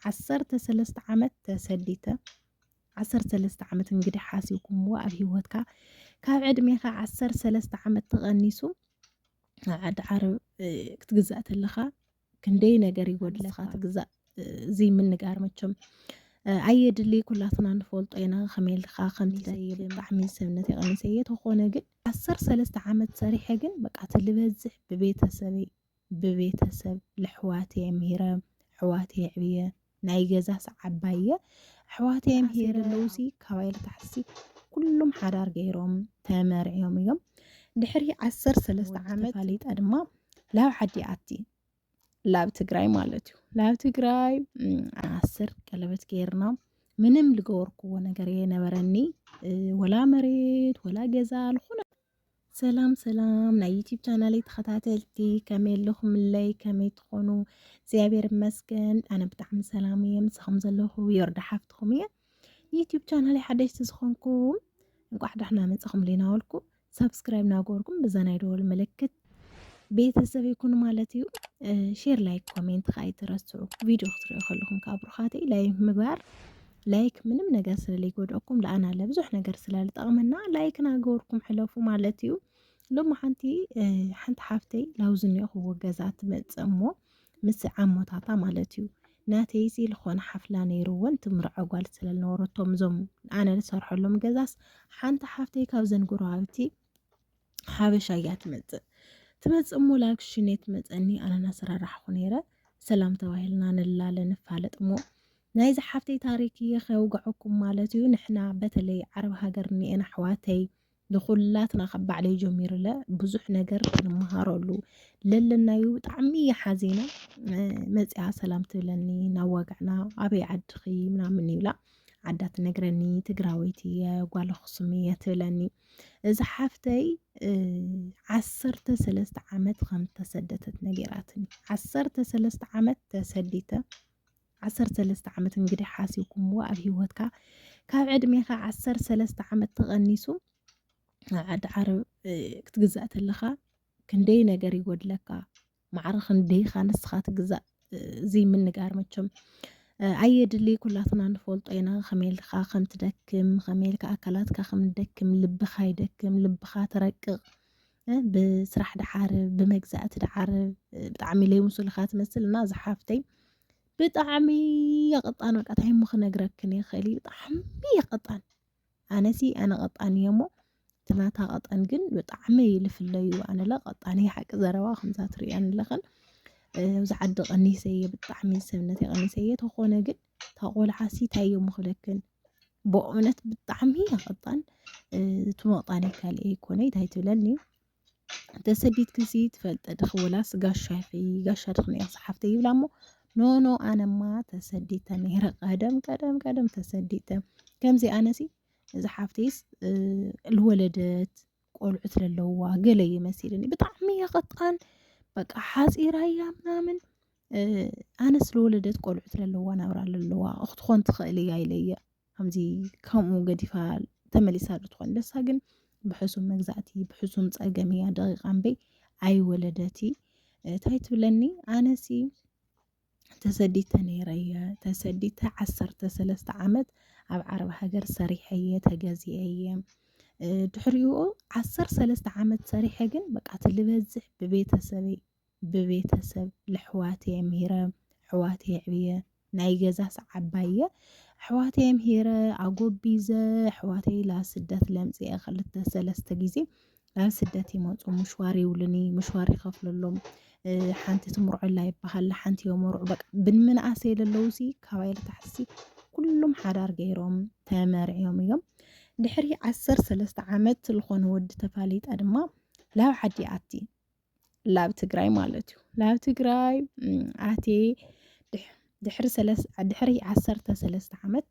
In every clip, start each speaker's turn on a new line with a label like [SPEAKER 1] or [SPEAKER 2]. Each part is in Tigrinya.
[SPEAKER 1] ዓሰርተ ሰለስተ ዓመት ተሰዲተ ዓሰርተ ሰለስተ ዓመት እንግዲህ ሓሲብኩምዎ ኣብ ሂወትካ ካብ ዕድሜኻ ዓሰር ሰለስተ ዓመት ተቐኒሱ ኣብ ዓዲ ዓረብ ክትግዛእ ተለኻ ክንደይ ነገር ይጎድለኻ ትግዛእ እዚ ምንጋር መቸም ኣየድሊ ኩላትና ንፈልጦ ኢና ከመልካ ከምትደይብ ብጣዕሚ ሰብነት የቐኒሰ እየ ተኾነ ግን ዓሰር ሰለስተ ዓመት ሰሪሐ ግን በቃ ትልበዝሕ ብቤተሰበይ ብቤተሰብ ለሕዋተይ ኣምሂረ ኣሕዋተይ ኣዕብየ ናይ ገዛ ሰዓባየ ኣሕዋተይ ኣምሂረ ለውሲ ካባይ ልታሕሲ ኩሎም ሓዳር ገይሮም ተመርዕዮም እዮም ድሕሪ ዓሰር ሰለስተ ዓመት ተፋሊጣ ድማ ላብ ዓዲ ኣቲ ላብ ትግራይ ማለት እዩ ላብ ትግራይ ዓስር ቀለበት ገይርና ምንም ልገበርክዎ ነገር የነበረኒ ወላ መሬት ወላ ገዛ ልኾነ ሰላም ሰላም ናይ ዩቲብ ቻናለይ ተኸታተልቲ ከመይ ኣለኹምለይ ከመይ ትኾኑ እግዚኣብሔር ይመስገን ኣነ ብጣዕሚ ሰላም እየ ምሳኹም ዘለኹ ዮርዳ ሓፍትኹም እየ ንዩቲብ ቻናለይ ሓደሽቲ ዝኾንኩም እንቋዕ ዳሕና መፅኹም ሊናወልኩ ሰብስክራይብ ናገበርኩም ብዛ ናይ ደወል ምልክት ቤተሰብ ይኩን ማለት እዩ ሼር ላይክ ኮሜንት ከዓ ይትረስዑ ቪድዮ ክትሪኦ ከለኹም ከዓ ብሩኻተይ ላይክ ምግባር ላይክ ምንም ነገር ስለለይጎድኣኩም ለኣና ለብዙሕ ነገር ስለልጠቕመና ላይክ ናገበርኩም ሕለፉ ማለት እዩ ሎሚ ሓንቲ ሓንቲ ሓፍተይ ላውዚ እኒኦኹዎ ገዛ ትመፅእ እሞ ምስ ዓሞታታ ማለት እዩ ናተይ እዚ ዝኾነ ሓፍላ ነይርዎን ትምርዖ ጓል ስለልነበረቶም እዞም ኣነ ዝሰርሐሎም ገዛስ ሓንቲ ሓፍተይ ካብዘን ጎረባብቲ ሓበሻ እያ ትመፅእ ትመፅእ እሞ ላግሽኔ ትመፀኒ ኣነና ሰራራሕኹ ነይረ ሰላም ተባሂልና ንላለ ንፋለጥ እሞ ናይ ዝሓፍተይ ታሪክ እየ ከውገዐኩም ማለት እዩ ንሕና በተለይ ዓረብ ሃገር እንኤን ኣሕዋተይ ንኩላትና ካብ ባዕለይ ጀሚርለ ብዙሕ ነገር ክንመሃረሉ ለለናዩ ብጣዕሚ እየ ሓዚነ መፅኣ ሰላም ትብለኒ ናብ ዋጋዕና ኣበይ ዓድኺ ምናምን ይብላ ዓዳ ትነግረኒ ትግራወይቲ እየ ጓል ኣኽሱም እየ ትብለኒ እዚ ሓፍተይ ዓሰርተ ሰለስተ ዓመት ከም ተሰደተት ነገራትኒ ዓሰርተ ሰለስተ ዓመት ተሰዲተ ዓሰርተ ሰለስተ ዓመት እንግዲህ ሓሲብኩምዎ ኣብ ሂወትካ ካብ ዕድሜኻ ዓሰርተ ሰለስተ ዓመት ተቐኒሱ ዓዲ ዓረብ ክትግዛእ ተለኻ ክንደይ ነገር ይጎድለካ ማዕረ ክንደይኻ ንስኻ ትግዛእ እዚ ምንጋር መቸም ኣየድሊ ኩላትና ንፈልጦ ኢና ከመልካ ከም ትደክም ከመልካ ኣካላትካ ከም ደክም ልብኻ ይደክም ልብኻ ትረቅቕ ብስራሕ ድዓር ብመግዛእቲ ድዓር ብጣዕሚ ለይምሱልኻ ትመስል እና ዝሓፍተይ ብጣዕሚ የቐጣን በቃ ታይ እሞ ክነግረክን ይኽእል እዩ ብጣዕሚ የቐጣን ኣነሲ ኣነ ቀጣን እየ እሞ ትናታ ቀጠን ግን ብጣዕሚ ልፍለዩ ኣነለ ቀጣን እየ ሓቂ ዘረባ ከምዛ ትሪእያን ኣለኽን ኣብዚ ዓዲ ቀኒሰ እየ ብጣዕሚ ሰብነት የቐኒሰ እየ ተኾነ ግን እታ ቆልዓሲ እንታይ እዮም ክብለክን ብእውነት ብጣዕሚ ያኸጣን እቲ መቕጣኒ ካልእ ይኮነ እንታይ ትብለኒ ተሰዲት ክሲ ትፈልጠ ድኽ ወላስ ጋሻ ይኺ ጋሻ ድኽ ነያ ሰሓፍተ ይብላ እሞ ኖኖ ኣነማ ተሰዲተ ነይረ ቀደም ቀደም ቀደም ተሰዲተ ከምዚ ኣነሲ እዚ ሓፍተይስ ልወለደት ቆልዑት ለለውዋ ገለ እዩ መሲልኒ ብጣዕሚ እየ ቐጣን በቃ ሓፂራ እያ ምናምን ኣነ ስለወለደት ቆልዑት ለለዋ ናብራ ለለዋ ክትኾን ትኽእል እያ ኢለየ ከምዚ ከምኡ ገዲፋ ተመሊሳ ልትኾን ደሳ ግን ብሕሱም መግዛእቲ ብሕሱም ፀገም እያ ደቂቃ እምበይ ኣይወለደቲ እንታይ ትብለኒ ኣነሲ ተሰዲተ ነይረ እየ ተሰዲተ ዓሰርተ ሰለስተ ዓመት ኣብ ዓረብ ሃገር ሰሪሐ እየ ተገዚአ እየ ድሕሪኡ ዓሰር ሰለስተ ዓመት ሰሪሐ ግን በቃ እቲ ልበዝሕ ብቤተሰበይ ብቤተሰብ ልሕዋት እየ ምሂረ ኣሕዋት እየ ዕብየ ናይ ገዛ ሰዓባይ እየ ኣሕዋት እየ ምሂረ ኣጎቢዘ ኣሕዋተይ ላስደት ለምፅአ ክልተ ሰለስተ ግዜ ናብ ስደት ይመፁ ምሽዋር ይብሉኒ ምሽዋር ይኸፍለሎም ሓንቲ ትምርዖላ ይበሃል ሓንቲ የመርዑ በቃ ብንመንኣሰ የለለዉ ሲ ካባይ ልታሕሲ ኩሎም ሓዳር ገይሮም ተመርዕዮም እዮም ድሕሪ ዓሰርተ ሰለስተ ዓመት ዝኾነ ወዲ ተፋሊጣ ድማ ላብ ዓዲ ኣቲ ላብ ትግራይ ማለት እዩ ላብ ትግራይ ኣቴ ድሕሪ ዓሰርተ ሰለስተ ዓመት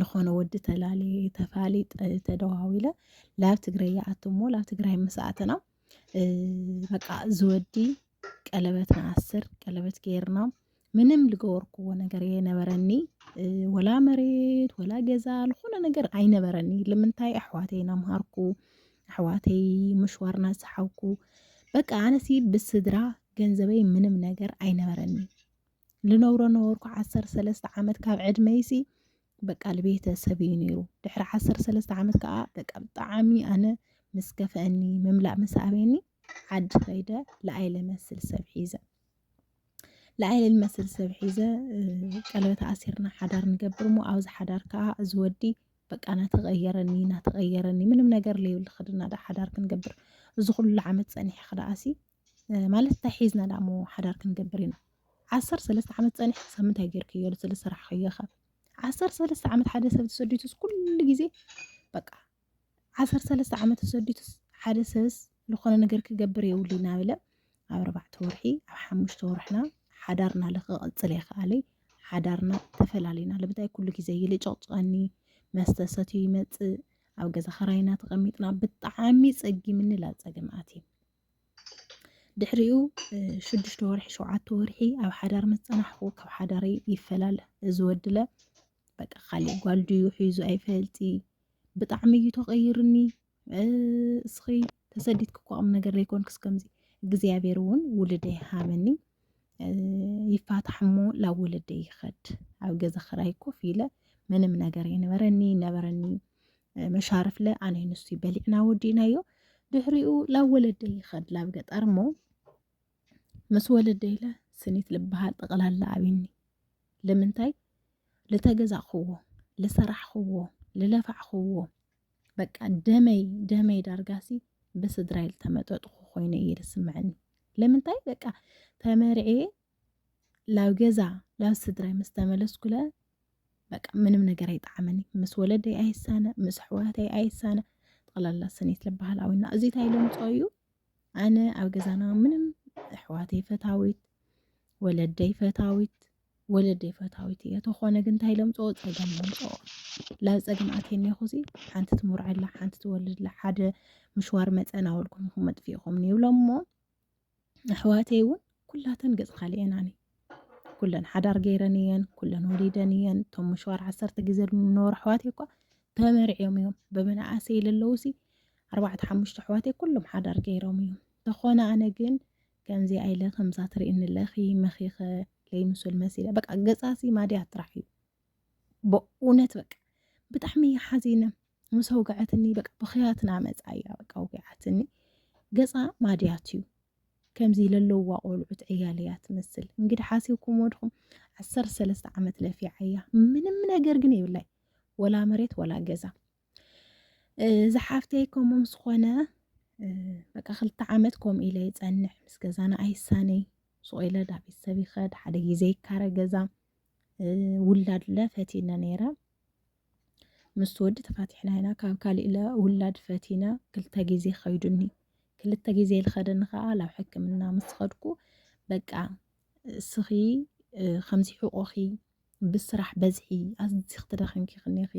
[SPEAKER 1] ዝኾነ ወዲ ተላሊ ተፋሊ ተደዋዊለ ላብ ትግራይ ይኣቱ እሞ ላብ ትግራይ ምስኣትና በቃ ዝወዲ ቀለበት ንኣስር ቀለበት ገይርና ምንም ልገበርኩዎ ነገር የነበረኒ ወላ መሬት ወላ ገዛ ልኾነ ነገር ኣይነበረኒ ልምንታይ ኣሕዋተይ ናምሃርኩ ኣሕዋተይ ምሽዋር ናሰሓብኩ በቃ ኣነሲ ብስድራ ገንዘበይ ምንም ነገር ኣይነበረኒ ልነብሮ ነበርኩ ዓሰር ሰለስተ ዓመት ካብ ዕድመይሲ በቃ ልቤተሰብ እዩ ነይሩ ድሕሪ ዓሰር ሰለስተ ዓመት ከዓ በቃ ብጣዕሚ ኣነ ምስ ከፍአኒ ምምላእ ምስ ኣበየኒ ዓዲ ከይደ ለኣይ ልመስል ሰብ ሒዘ ልኣይ ልል መስል ሰብ ሒዘ ቀለበት ኣሲርና ሓዳር ንገብር እሞ ኣብዚ ሓዳር ከዓ እዚ ወዲ በቃ ናተቐየረኒ ናተቐየረኒ ምንም ነገር ለይብሉ ክድና ዳ ሓዳር ክንገብር እዚ ኩሉ ዓመት ፀኒሐ ክደኣሲ ማለት እንታይ ሒዝና ዳ እሞ ሓዳር ክንገብር ኢና ዓሰርተ ሰለስተ ዓመት ፀኒሐ ክሳብ ምንታይ ጌርክዮ ስለ ስራሕ ከየኸ ዓሰርተ ሰለስተ ዓመት ሓደ ሰብ ተሰዲቱ ኩሉ ግዜ በቃ ዓሰርተ ሰለስተ ዓመት ተሰዲቱስ ሓደ ሰብስ ዝኾነ ነገር ክገብር የብሉ እናበለ ኣብ ኣርባዕተ ወርሒ ኣብ ሓሙሽተ ወርሕና ሓዳርና ልክቐፅል የኸኣለይ ሓዳርና ተፈላለዩና ልብታይ ኩሉ ግዜ ይልጨቕጨቐኒ መስተ ሰትዩ ይመፅእ ኣብ ገዛ ኸራይና ተቐሚጥና ብጣዕሚ ፀጊምኒ ላብ ፀገም ኣትየ ድሕሪኡ ሽዱሽተ ወርሒ ሸውዓተ ወርሒ ኣብ ሓዳር ምስ ፀናሕኹ ካብ ሓዳረይ ይፈላለ እዚ ወድለ በቃ ካሊእ ጓል ድዩ ሒዙ ኣይፈልጢ ብጣዕሚ እዩ ተቐይርኒ እስኺ ተሰዲትኪ እኮ ቁም ነገር ዘይኮንክስ ከምዚ እግዚኣብሔር እውን ውልደ ይሃበኒ ይፋታሕ እሞ ላብ ወለደ ይኸድ ኣብ ገዛ ክራይ ኮፍ ኢለ ምንም ነገር ይነበረኒ ነበረኒ መሻርፍለ ኣነ ንሱ በሊዕና ወዲእናዮ ድሕሪኡ ላብ ወለደ ይኸድ ላብ ገጠር እሞ ምስ ወለደይ ኢለ ስኒት ልበሃል ጠቕላላ ኣብኒ ልምንታይ ልተገዛእኽዎ ልሰራሕኽዎ ልለፋዕኽዎ በቃ ደመይ ደመይ ዳርጋሲ ብስድራይ ልተመጠጥኹ ኮይኑ እዩ ዝስምዐኒ ልምንታይ በቃ ተመርዕየ ላብ ገዛ ላብ ስድራይ ምስ ተመለስኩለ በቃ ምንም ነገር ኣይጠዓመኒ ምስ ወለደይ ኣይሳነ ምስ ኣሕዋተይ ኣይሳነ ጠቕላላ ስኒት ልበሃል ኣዊና እዚ እንታይ ልምፆ እዩ ኣነ ኣብ ገዛና ምንም ኣሕዋተይ ፈታዊት ወለደይ ፈታዊት ወለደይ ፈታዊት እየ ተኾነ ግን እንታይ ለምፅኦ ፀገም ለምፅኦ ላብ ፀገም ኣትየኒ ኹዚ ሓንቲ ትምርዐላ ሓንቲ ትወልድላ ሓደ ምሽዋር መፀን ኣወልኩም ይኹም መጥፊእኹም ይብሎ እሞ ኣሕዋተይ እውን ኩላተን ገፅ ካልኤናኒ ኩለን ሓዳር ገይረን እየን ኩለን ወሊደን እየን እቶም ምሸዋር ዓሰርተ ግዜ ዝነበሩ ኣሕዋት እኳ ተመርዕዮም እዮም ብመናእሰይ ለለዉ ሲ ኣርባዕተ ሓሙሽተ ኣሕዋት ኩሎም ሓዳር ገይሮም እዮም ተኾነ ኣነ ግን ከምዚ ኣይለ ከምዛ ትርእኒ ኣለኺ መኺኸ ለይምሱል መሲለ በቃ ገፃሲ ማድያ ጥራሕ እዩ ብእውነት በቃ ብጣዕሚ እያ ሓዚነ ምስ ኣውግዐትኒ በቃ ብኽያትና መፃ እያ በቃ ኣውግዓትኒ ገፃ ማድያት እዩ ከምዚ ለለዋ ቆልዑት ዕያል እያ ትመስል እንግዲህ ሓሲብኩም ወድኹም ዓሰር ሰለስተ ዓመት ለፊዓ እያ ምንም ነገር ግን የብላይ ወላ መሬት ወላ ገዛ ዝሓፍተይ ከምኡ ምስ ኾነ በቃ ክልተ ዓመት ከምኡ ኢለ ይፀንሕ ምስ ገዛና ኣይሳነይ ሱቕ ኢለ ዳ ቤተሰብ ይኸድ ሓደ ግዜ ይካረ ገዛ ውላድለ ፈቲነ ነይረ ምስ ወዲ ተፋቲሕና ኢና ካብ ካሊእ ለ ውላድ ፈቲነ ክልተ ግዜ ከይዱኒ ክልተ ግዜ ዝኸደኒ ከዓ ናብ ሕክምና ምስ ኸድኩ በቃ እስኺ ከምዚ ሕቆኺ ብስራሕ በዝሒ ኣዝኺ ትደኺምኪ ክኒኺ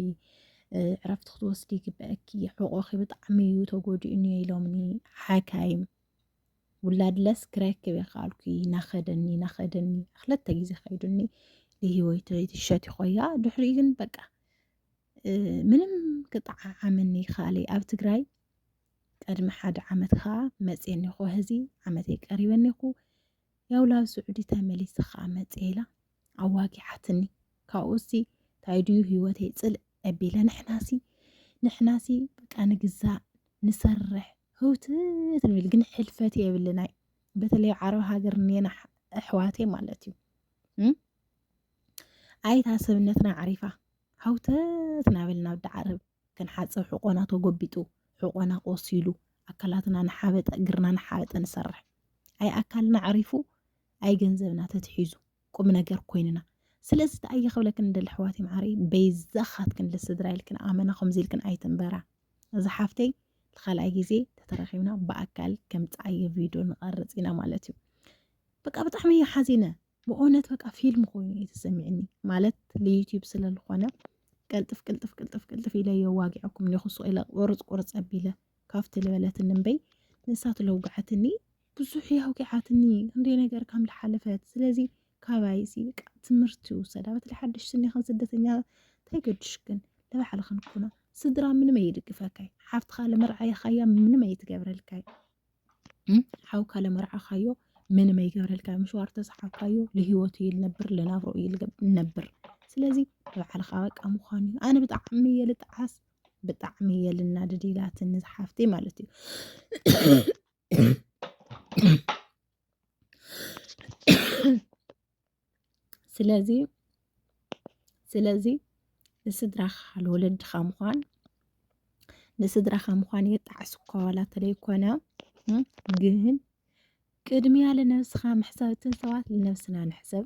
[SPEAKER 1] ዕረፍቲ ክትወስዲ ይግበአኪ ሕቆኺ ብጣዕሚ እዩ ተጎዲኡ እኒኦ ኢሎምኒ ሓካይም ውላድለስ ክረክብ የካልኩ ናኸደኒ ናኸደኒ ክለተ ግዜ ከይዱኒ ልሂወይቶ ይትሸት ይኮያ ድሕሪ ግን በቃ ምንም ክጠዓዓመኒ ይካለይ ኣብ ትግራይ ቅድሚ ሓደ ዓመት ከዓ መፅየኒ ኮ ህዚ ዓመተይ ቀሪበኒ ኩ ያው ላብ ስዑዲ ተመሊስ ከዓ መፅየ ኢላ ኣዋጊዓትኒ ካብኡ ሲ እንታይ ድዩ ህይወተይ ፅልእ ኣቢለ ንሕናሲ ንሕናሲ በቃ ንግዛእ ንሰርሕ ህውትት ንብል ግን ሕልፈት የብልናይ በተለይ ዓረብ ሃገር ኔና ኣሕዋተይ ማለት እዩ ኣይታ ሰብነትና ዓሪፋ ሃውተት ናበልና ወዲ ዓረብ ክንሓፅብ ሕቆና ተጎቢጡ ሕቆና ቆሲሉ ኣካላትና ንሓበጠ እግርና ንሓበጠ ንሰርሕ ኣይ ኣካልና ዓሪፉ ኣይ ገንዘብና ተትሒዙ ቁምነገር ኮይንና ስለዚ ደኣ እየ ክብለክን ንደሊ ኣሕዋተይ መዓረይ በይዛኻትክን ልስድራ ኢልክን ኣመና ከምዚ ኢልክን ኣይትንበራ እዚ ሓፍተይ ንካልኣይ ግዜ ተተረኺብና ብኣካል ከምፅዓየ ቪድዮ ንቐርፅ ኢና ማለት እዩ በቃ ብጣዕሚ እዩ ሓዚነ ብእውነት በቃ ፊልም ኮይኑ እዩ ተሰሚዕኒ ማለት ልዩትዩብ ስለዝኾነ ቅልጥፍ ቅልጥፍ ቅልጥፍ ቅልጥፍ ኢለ የዋጊዐኩም ኒኹሱ ኢለ ቁርፅ ቁርፅ ኣቢለ ካብቲ ዝበለትኒ እምበይ ንሳ ትለውግዐትኒ ብዙሕ እያ ኣውቂዓትኒ ክንደይ ነገር ከም ዝሓለፈት ስለዚ ካባይ እዚ በቃ ትምህርቲ ውሰዳ በቲ ሓድሽ ስኒኸን ስደተኛ እንታይ ገድሽክን ንባዕልኽን ኩኖ ስድራ ምንም ኣይድግፈካይ ሓፍትኻ ለመርዓይኻያ ምንም ኣይትገብረልካይ ሓውካ ለመርዓኻዮ ምንም ኣይገብረልካይ ምሽዋር ተሰሓብካዮ ልህይወቱ እዩ ልነብር ልናብሮ እዩ ልነብር ስለዚ ንባዕልኻ በቃ ምዃኑ እዩ ኣነ ብጣዕሚ እየ ልጠዓስ ብጣዕሚ እየ ልናድድ ኢላትኒ ዝሓፍተይ ማለት እዩ ስለዚ ስለዚ ንስድራኻ ንወለድኻ ምዃን ንስድራኻ ምዃን የጣዕስ እኳ ዋላ ተለይኮነ ግን ቅድሚያ ልነብስኻ ምሕሳብ እትን ሰባት ልነብስና ንሕሰብ